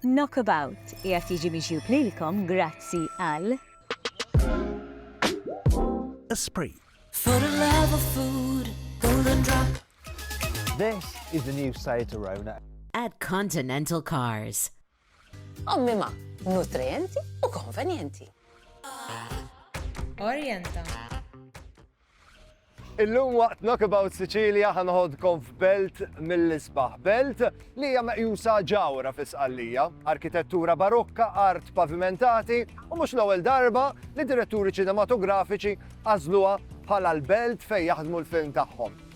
Knockabout qiegħed jiġi miġjub lilkom grazzi għal. Esprit. For the love of food, golden drop. This is the new Seat Arona. At Continental Cars. Ommima, nutrienti u konvenjenti. Orienta. Illum waqt Knockabout Sicilia ħa noħodkom f'belt mill-isbaħ. Belt li hija meqjusa ġawhra fi Sqallija. Arkitettura barokka, art pavimentati u mhux l-ewwel darba li diretturi ċinematografiċi għażluha bħala l-belt fejn jaħdmu l-film tagħhom.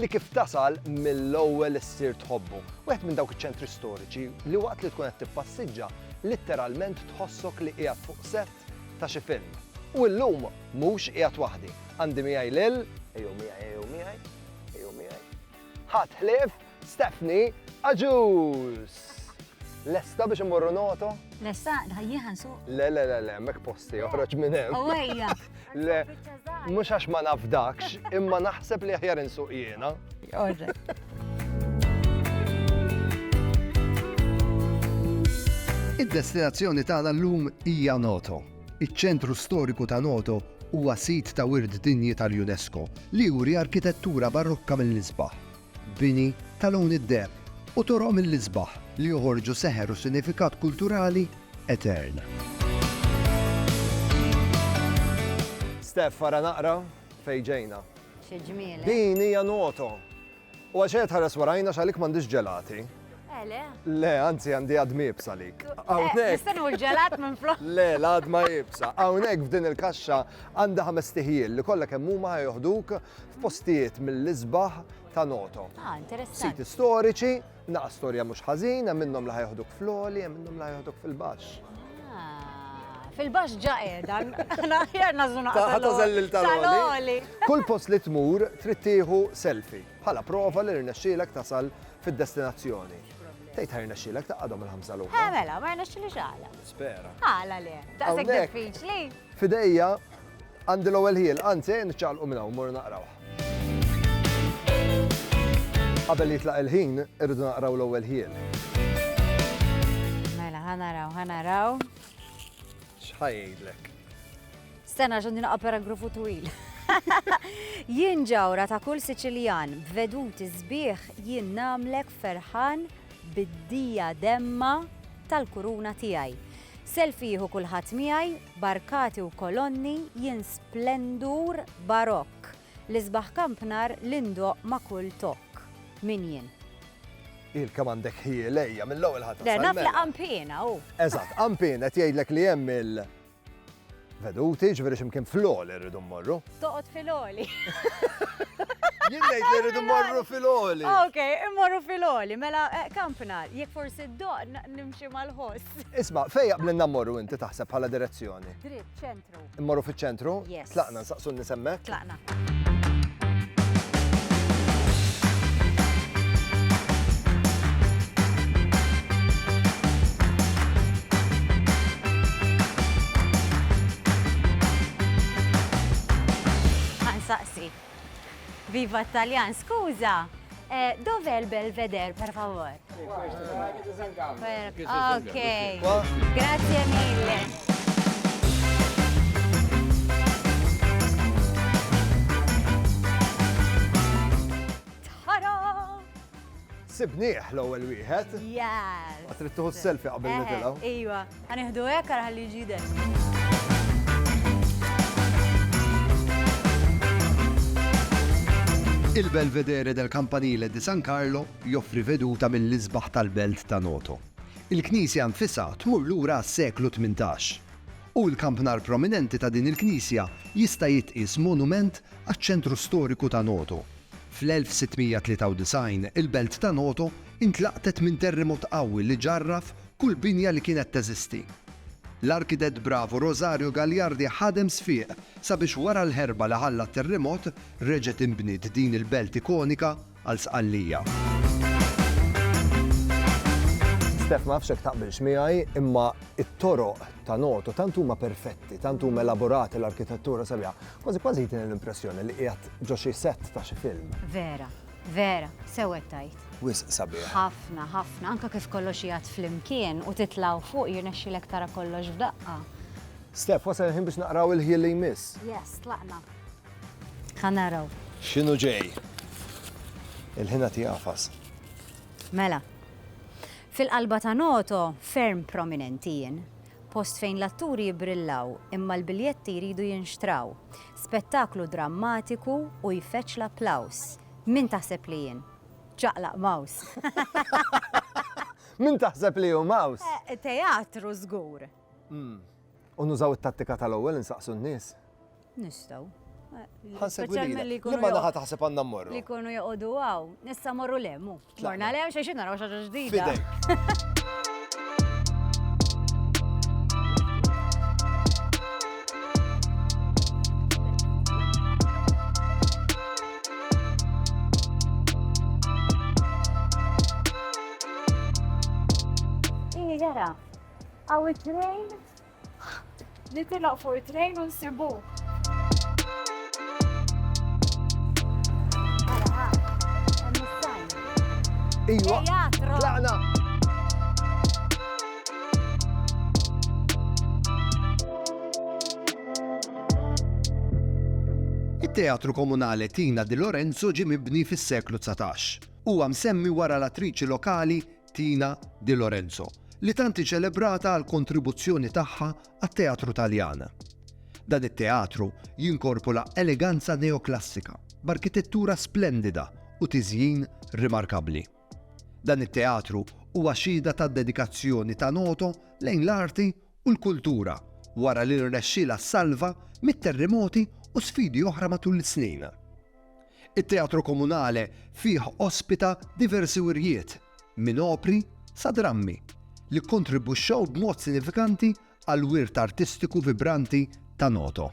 li kif tasal mill-ewwel issir tħobbu, wieħed minn dawk iċ-ċentri storiċi li waqt li tkun qed tippassiġġa litteralment tħossok li qiegħed fuq sett ta' xi film. U illum mhux qiegħed waħdi, għandi miegħi lil, ejjew miegħi ejjew miegħi, ejjew miegħi, ħadd ħlief Stephanie Agius! Lesta biex immorru noto? Lesta, ħajjieħ nsuq. Le, le, le, le, mek posti, oħroġ minn hemm. Owejja. Le, mhux għax ma nafdakx, imma naħseb li aħjar insuq jiena. Id-destinazzjoni tagħna llum hija Noto. Iċ-ċentru storiku ta' Noto huwa sit ta' wirt dinji tal-UNESCO li juri arkitettura barokka mill-isbaħ bini ta' lewni d-deheb u toroq mill-isbaħ li joħorġu seħer u sinifikat kulturali etern. Steph, ara naqra fejn ġejna. Xi ġmiel, eh? Din hija Noto. U għalxejn qed tħares warajna għax għalik m'għandix ġelati. Eh, le. Le, anzi għandi għad mibsa lik. Għawnek. Nistanu l-ġelat minn flok. Le, l-għad ma jibsa. Għawnek f'din il-kaxxa għanda ħames tiħjil li kollha kemm huma ħajoħduk f'postijiet mill-isbaħ ta' noto. Ah, interessanti. Siti storiċi, naqa storja mhux ħażin, hemm minnhom li ħajoħduk fl-oli, hemm minnhom li ħajoħduk fil-baxx. Ah, fil-bax ġa edan, naħjar nażuna. Taħta tal-oli. Kull post li tmur trid tieħu selfie. bħala prova li rnexxielek tasal fid-destinazzjoni. Tgħid ħa rnexxielek taqgħadhom il-ħamsa l Eh mela, ma rnexxili x'għala. Spera. Għala le, daqshekk diffiċli. Fidejja għandi l-ewwel ħiel, anzi niċċaqlqu minn hawn mor naqrawh. Qabel jitlaq il-ħin, irridu naqraw l-ewwel ħiel. Mela, ħanaraw, ħanaraw. X'ħajjidlek? Stenna x'għandi naqa' paragrafu twil. Jien ġawra ta' kull Siċiljan, b'veduti sbieħ jien nagħmlek ferħan bid-dija demma tal-kuruna tiegħi. Selfie jieħu kulħadd miegħi, b'arkati u kolonni jien splendur barokk, l-isbaħ kampnar li ndoqq ma' kull tokk. Min jien? Il kemm għandek ħjiel ejja mill-ewwel ħatra. Le naf li qampina hu. Eżatt, qampina qed jgħidlek li hemm il- Veduti, ġveri ximkien fl-oli rridu mmorru. Toqot fil-oli. Jien ngħid li rridu morru fil-oli. Ah, ok, immorru fil-oli, mela eh, kampna, jekk forsi d-doq nimxi mal-ħoss. Isma, fejja blinna morru inti taħseb bħala direzzjoni? Dritt, ċentru. Immorru fiċ-ċentru? Yes. Tlaqna, nsaqsu n-nies hemmhekk? Tlaqna. Ħa nsaqsi. Viva t-Taljan, skuża! Dov'è il Belvedere, per favor? Ok, grazie mille. Sibnieh l-ewwel wieħed. Yes. Trid tieħu selfie qabel nitilgħu. Ejwa. Ħa nieħdu hekk ara ħalli jiġi jidher. Il-Belvedere del Campanile di San Carlo joffri veduta mill-isbaħ tal-belt ta' Noto. Il-knisja nfisha tmur lura għas-seklu tmintax, u l-kampnar prominenti ta' din il-knisja jista' jitqies monument għaċ-ċentru storiku ta' Noto. Fl-1693 il-belt ta' Noto intlaqtet minn terremot qawwi li ġarraf Kull binja li kienet teżisti. L-arkitett bravu Rosario Gagliardi ħadem sfiq sabiex wara l-ħerba li ħalla t-terrimot reġgħet tinbniet din il-belt ikonika għal Sqallija. Steph ma nafx hekk taqbilx miegħi, imma it-toroq ta' Noto tant huma perfetti, tant huma elaborati l-arkitettura sabiħa. Kważi kważi jtini l-impressjoni li qiegħed ġo xi set ta' xi film. Vera. Vera, sewwed tajt. Wisq sabiħ. Ħafna, ħafna, anke kif kollox jgħadd flimkien u titla' 'l fuq jirnexxilek tara kollox f'daqqa. Steph, wasal il-ħin biex naqraw il-ħjiel li jmiss. Yes, tlaqna. Ħa naraw. X'inhu ġej? Il-ħin għad jagħfas. Mela. Fil-qalba ta' noto ferm prominenti jien. Post fejn l-atturi jibbrillaw imma l-biljetti jridu jinxtraw. Spettaklu drammatiku u jfeġġ l-applaws. Min taħseb li jien? Ċaqlaq Maws! Min taħseb li hu Maws? Teatru żgur! U nużaw it-tattika tal-ewwel insaqsu n-nies. Nistaw. Għan segwi li. Li ma naħa taħseb għanna morru. Li kunu joqodu għaw. Nissa morru lemmu. Morna lem, xie xinna raw xaġa ġdida. Għaw it-train Nitilgħu fuq it-trejn u nsibuh. Iva, tlaqna! It-Teatru Komunale Tina di Lorenzo ġie mibni fis-seklu dsatax. Huwa msemmi wara l-attriċi lokali Tina Di Lorenzo, li tant hi ċelebrata għall-kontribuzzjoni tagħha għat-teatru Taljan. Dan it-teatru jinkorpula eleganza neoklassika b'arkitettura splendida u tiżjin rimarkabbli. Dan it-teatru huwa xhieda tad-dedikazzjoni ta' Noto lejn l-arti u l-kultura wara li rnexxielha ssalva mit-terrimoti u sfidi oħra matul is-snin. It-Teatro Comunale fih ospita diversi wirjiet, minn opri sa drammi, li kkontribwixxew b'mod sinifikanti għall-wirt artistiku vibranti ta' Noto.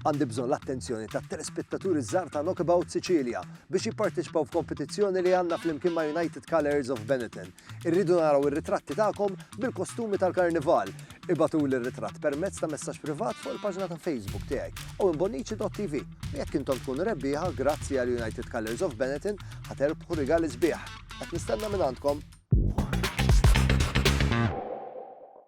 Għandi bżonn l-attenzjoni tat-telespettaturi ż-żgħar ta' Knockabout Sicilia biex jipparteċipaw f'kompetizzjoni li għandna flimkien ma' United Colours of Benetton. Irridu naraw ir-ritratti tagħkom bil-kostumi tal-Karnival. Ibagħtuli r-ritratt permezz ta' messaġġ privat fuq il-paġna ta' Facebook tiegħi, owenbonnici.tv. U jekk intom tkunu rebbieħa, grazzi għal United Colours of Benetton, ħa terbħu rigali sbieħ. Qed nistenna minn għandkom!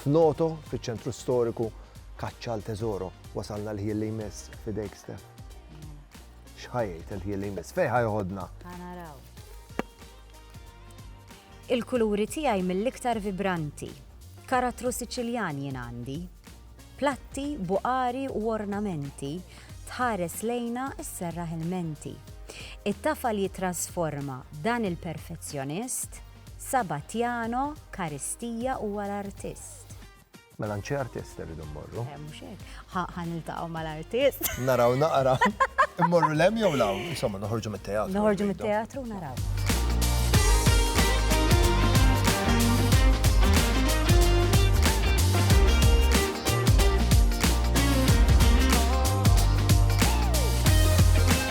F'Noto, fiċ-ċentru storiku, kaċċa għal teżoro. Wasalna l-ħin li jmiss f'idejk Stef. X'ħajjejt il-ħin li jmiss? Fejn ħajħodna? Ħanaraw. Il-kuluri tiegħi mill-iktar vibranti. Karattru Siċiljan jien għandi. Platti, buqari u ornamenti tħares lejna s-serra il-menti. It-tafal jitrasforma dan il-perfezzjonist Sabatiano Caristia huwa l-artist. Mela għand xi artist irridu mmorru. Eh, mhux hekk. Ħa niltaqgħu mal-artist. Naraw naqra. Immorru lem jew law, insomma noħorġu mit-teatru. Noħorġu mit-teatru naraw.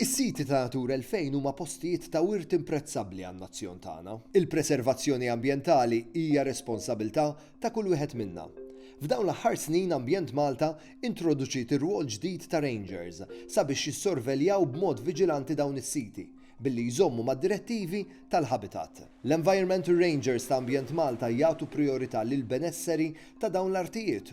Is-siti ta' Natura 2000 huma postijiet ta' wirt imprezzabbli għan-nazzjon tagħna. Il-preservazzjoni ambjentali hija responsabilità ta' kull wieħed minna. F'dawn l-aħħar snin Ambjent Malta introduċiet ir-rwol ġdid ta' rangers sabiex jissorveljaw b'mod viġilanti dawn is-siti billi jżommu mad-direttivi tal-habitat. L-Environmental Rangers ta' Ambjent Malta jagħtu prijorità lill-benesseri ta' dawn l-artijiet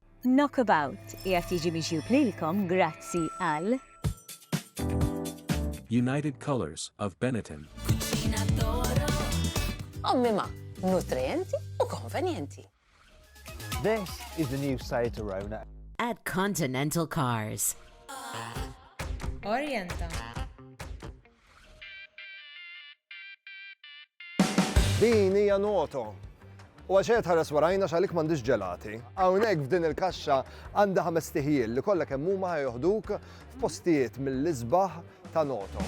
Knockabout qiegħed jiġi miġjub lilkom grazzi għal. United Colours of Benetton. Kuċina Toro. Ommima, nutrienti u konvenjenti. This is the new Seat Arona. At Continental Cars. Orienta. Din hija noto. U għax qed ħares warajna x'għalik m'għandix ġelati. Hawnhekk f'din il-kaxxa għandha ħames tiħjil li kollha kemm huma ħajoħduk f'postijiet mill-isbaħ ta' noto.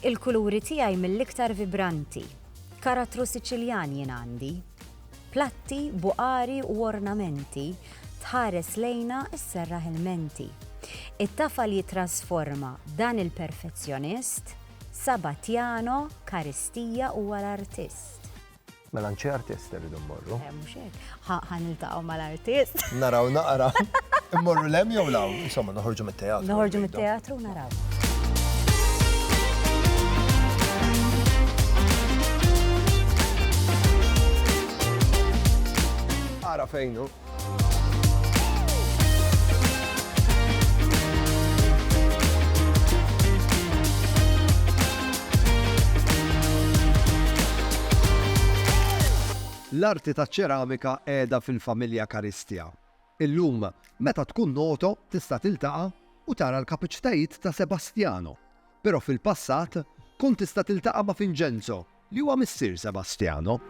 Il-kuluri tiegħi mill-iktar vibranti. Karattru Siċiljan jien għandi. Platti, buqari u ornamenti, tħares lejna sserraħ il-menti. It-tafal jittrasforma dan il-perfezzjonist, Sabatjano Karistija huwa l-artist. Mela nċi artist irridu mmorru. Eh, mhux hekk. Ħa niltaqgħu mal-artist. Naraw naqra. Immorru lem jew law, insomma noħorġu mit-teatru. Noħorġu mit-teatru naraw. Ara fejnu. L-arti taċ-ċeramika qiegħda fil-familja Caristia. Illum, meta tkun Noto tista' tiltaqa' u tara l-kapaċitajiet ta' Sebastiano, però fil-passat kont tista' tiltaqa' ma' Vincenzo, li huwa missier Sebastiano.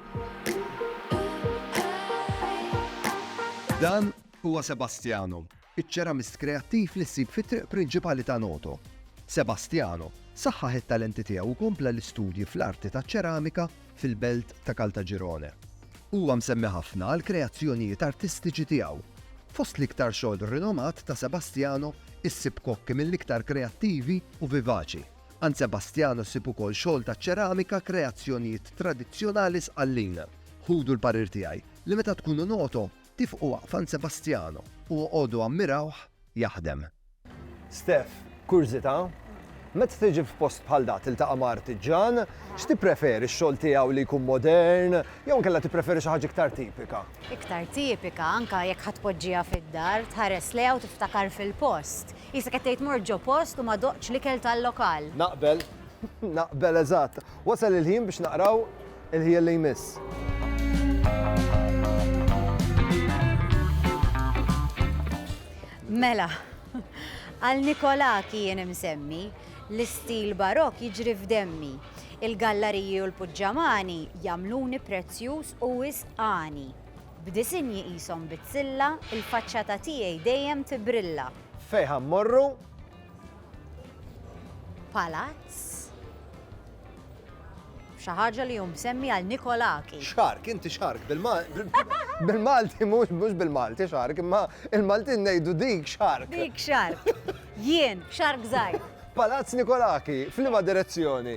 Dan huwa Sebastiano, iċ-ċeramist kreattiv li ssib fit-triq prinċipali ta' Noto. Sebastiano saħħaħ it-talenti tiegħu u kompla l-istudji fl-arti taċ-ċeramika fil-belt ta' Caltagirone. Huwa msemmi ħafna għall-kreazzjonijiet artistiċi tiegħu. Fost l-iktar xogħol rinomat ta' Sebastiano issib kokki mill-iktar kreattivi u vivaċi. Għand Sebastiano ssib ukoll xogħol ta' ċeramika, kreazzjonijiet tradizzjonali Sqallin. Ħudu l-parir tiegħi li meta tkunu Noto, tifqu waqf għand Sebastiano u oqogħdu ammirawh jaħdem. Steph, Kurżità, Meta tiġi f'post bħal da tiltaqa' ma' artiġġan, x'tippreferi x-xogħol tiegħu li jkun modern jew inkella tippreferi xi ħaġa iktar tipika? Iktar tipika, anke jekk ħa tpoġġiha fid-dar, tħares lejha u tiftakar fil-post. Qisek qed tgħid mort ġo post u ma doqtx l-ikel tal-lokal. Naqbel. Naqbel eżatt. Wasal il-ħin biex naqraw il-ħjiel li jmiss. Mela, għal Nikolaki jien imsemmi, l-istil barok jiġri f'demmi. Il-gallariji u l-puġġamani jamluni prezzjuż u wisqani. B'disinji qishom bizzilla. Il-faċċata tiegħi dejjem tibrilla. Fejn ħa mmorru? Palazz. Xi ħaġa li hu msemmi għal Nikolaki. Xark, inti xark bil-Malti, mhux bil-Malti xark, imma il-Maltin ngħidu dik xark. Dik xark. Jien, xark żgħir. Palazz Nikolaki, f'liema direzzjoni?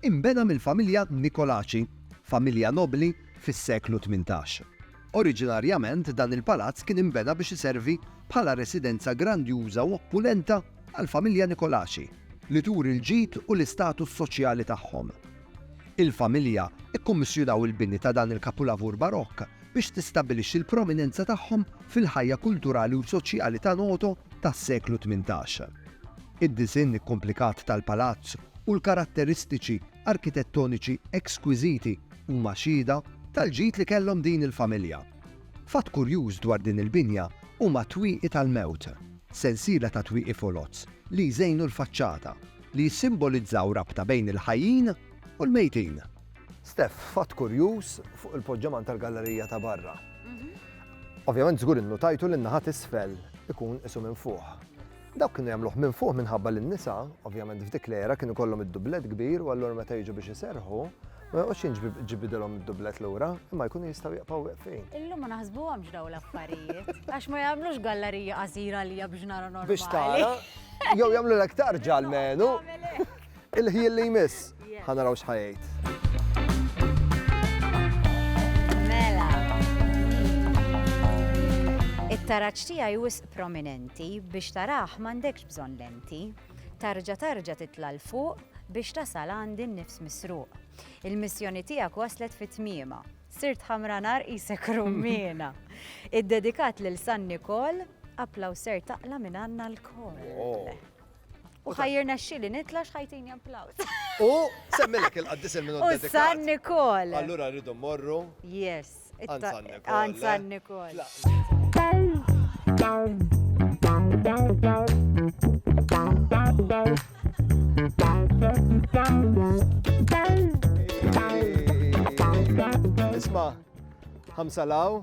Inbena mill-familja Nicolaci, familja nobbli fis-seklu tmintax. Oriġinarjament dan il-palazz kien inbena biex iservi bħala residenza grandjuża u oppulenta għall-familja Nicolaci, li turi l-ġid u l-istatus soċjali tagħhom. Il-familja kkummissjunaw il-bini ta' dan il-kapulavur Barokk biex tistabbilixxi l-prominenza tagħhom fil-ħajja kulturali u soċjali ta' Noto tas-seklu tmintax. Id-disinn ikkumplikat tal-palazz u l-karatteristiċi arkitettoniċi ekskwiżiti huma xhieda tal-ġid li kellhom din il-familja. Fatt kurjuż dwar din il-binja huma t-twieqi tal-mewt, sensiela ta' twieqi foloz li jżejnu l-faċċata, li jissimbolizzaw rabta bejn il-ħajjin u l-mejtin. Steph, fatt kurjuż fuq il-poġġaman tal-gallerija ta' barra. Ovvjament żgur innutajtu li n-naħa t'isfel ikun qisu minn fuq. Dawk kienu jagħmluh minn fuq minħabba li n-nisa, ovvjament f'dik l-era kienu jkollhom id-dublett kbir u allura meta jiġu biex iserrħu, ma joqgħodx jinġbidilhom id-dublett lura, imma jkunu jistgħu jibqgħu weqfin. Illum ma naħsbuhomx dawn l-affarijiet, għax ma jagħmlux gallarija qasira għalija biex nara normali. Biex tara, jew jagħmlulek tarġa almenu. Il-ħjiel li jmiss, ħa naraw x'ħa jgħid. Mela. It-taraġġ tiegħi wisq prominenti biex tarah m'għandekx bżonn lenti. Tarġa tarġa titla' l fuq biex tasal għandi n-nifs misruq. Il-missjoni tiegħek waslet fit tmiema Sirt ħamra nar isek rummina. Id-dedikat lil San Nikol, aplaw ser taqla minn għanna l-kol. Oh. U ħajjirna xili nitla xħajtini applaus. U semmilek il-qaddis il-minut. U San Nikol. Allura rridu morru. Yes. Għan San Nikol. Isma, ħamsalaw.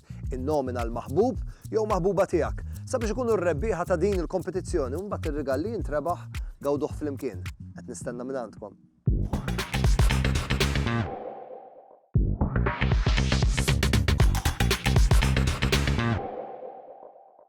Innomina l-maħbub jew maħbuba tiegħek sabiex ikunu r-rebbieħa ta' din il-kompetizzjoni u mbagħad ir-rigal li jintrebaħ gawduh flimkien. Qed nistenna minn għandkom.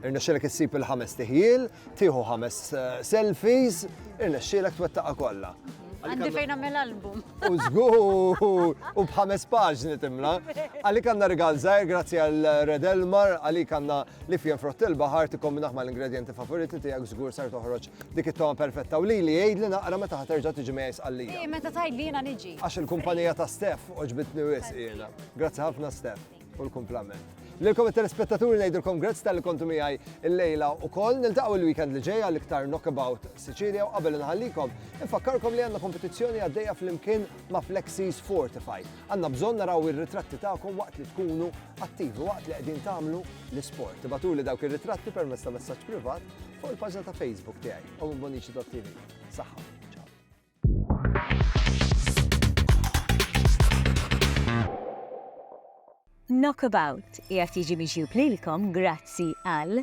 Irnexxielek issib il-ħames tiħjiel, tieħu ħames eh, selfies, irnexxielek twettaqha kollha. Għandi fejn għamil album. U zgur, u bħames paġni timla. Għalik għanna rigal zaħir, grazzi għal Red Elmar, għalik għanna li fjen frott il-bahar ti kombinaħ ma l-ingredienti favoriti ti għak zgur sar toħroċ dik it-toma perfetta u li li għid li naqra meta ħaterġa tiġi mejs għalli. Meta tajd li jena niġi. Għax il-kumpanija ta' Stef oġbitni wis jena. Grazzi ħafna Stef. u l-kumplament. Lilkom it-telespettaturi ngħidilkom grazzi tal-li kontu miegħi l-lejla u koll niltaqgħu l-weekend li ġejja l-iktar knockabout Sicilia u qabel nħallikom infakkarkom li għandna kompetizzjoni għaddejja fl-imkien ma' Flexis Fortify. Għandna bżonn naraw ir-ritratti tagħkom waqt li tkunu attivi waqt li qegħdin tagħmlu l-isport. Tibatuli dawk ir-ritratti permezz ta' messaġġ privat fuq il-paġna ta' Facebook tiegħi u Bonici.tv. Saħħa. Knockabout qiegħed jiġi miġjub lilkom grazzi għal.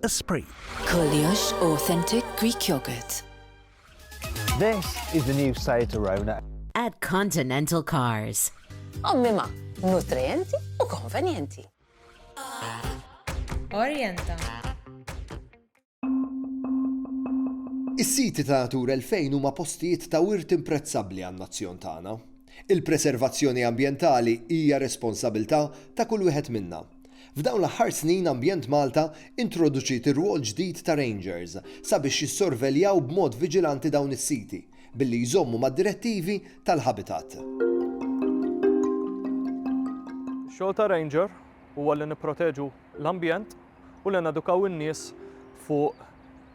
Esprit. Kollox authentic Greek yogurt. This is the new Seat Arona. At Continental Cars. Ommima, nutrienti u konvenjenti. Orienta. Is-siti ta' Natura 2000 huma postijiet ta' wirt imprezzabbli għan-nazzjon tagħna. Il-preservazzjoni ambjentali hija responsabilità ta' kull wieħed minna. F'dawn l-aħħar snin Ambjent Malta introduċiet ir-rwol ġdid ta' rangers sabiex jissorveljaw b'mod viġilanti dawn is-siti billi jżommu mad-direttivi tal-habitat. Ix-xogħol ta' ranger huwa li nipproteġu l-ambjent u li nedukaw in-nies fuq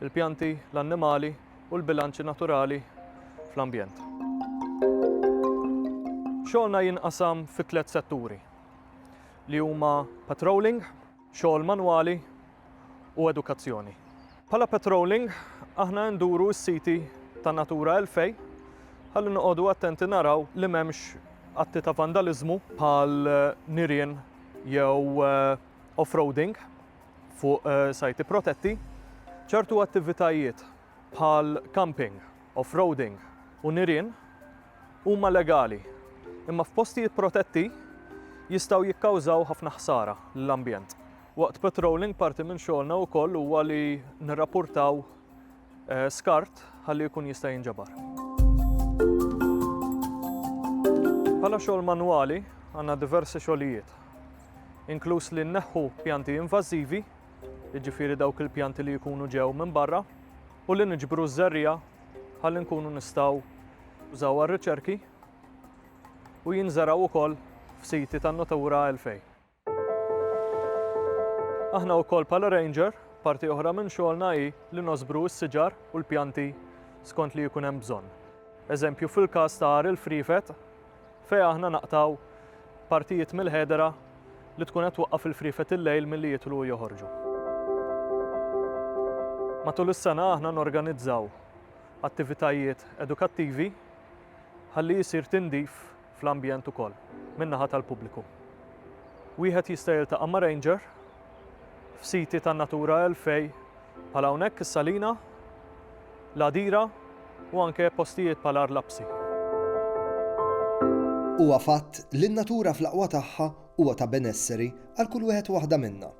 il-pjanti, l-annimali u l-bilanċi naturali fl-ambjent. Xogħolna jinqasam fi tliet setturi li huma patrolling, xogħol manwali u edukazzjoni. Bħala patrolling aħna nduru s-siti ta' Natura 2000 ħalli noqogħdu attenti naraw li m'hemmx atti ta' vandaliżmu bħal nirien jew off-roading fuq sajti protetti, ċertu attivitajiet bħal camping, off-roading u nirien huma legali, imma f'postijiet protetti jistgħu jikkawżaw ħafna ħsara lill-ambjent. Waqt patrolling parti minn xogħolna wkoll huwa li nirrapportaw eh, skart ħalli jkun jista' jinġabar. Bħala xogħol manwali għandna diversi xogħlijiet, inkluż li nneħħu pjanti invażivi, jiġifieri dawk il-pjanti li jkunu ġew minn barra, u li niġbru ż-żerrija ħalli nkunu nistgħu użaw għar-riċerki u jinżeraw ukoll f'siti tan-Natura 2000. Aħna wkoll bħala ranger, parti oħra minn xogħolna hi li nożbru s-siġar u l-pjanti skont li jkun hemm bżonn. Eżempju fil-każ ta' għar il-friefet fejn aħna naqtgħu partijiet mill-ħedera li tkun qed twaqqaf il-friefet il-lejl milli jidħlu u joħorġu. Matul is-sena aħna norganizzaw attivitajiet edukattivi ħalli jsir tindif fl-ambjent ukoll min-naħa tal-pubbliku. Wieħed jista' jiltaqa' ma' ranger f'siti tan-Natura 2000 bħal hawnhekk is-Salina, l-Għadira u anke postijiet bħal Għar Lapsi. Huwa fatt li n-natura fl-aqwa tagħha huwa ta' benesseri għal kull wieħed u waħda minna.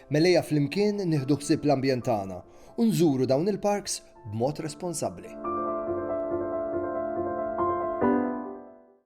Mela ejja flimkien nieħdu ħsieb l-ambjent tagħna u nżuru dawn il-parks b'mod responsabbli.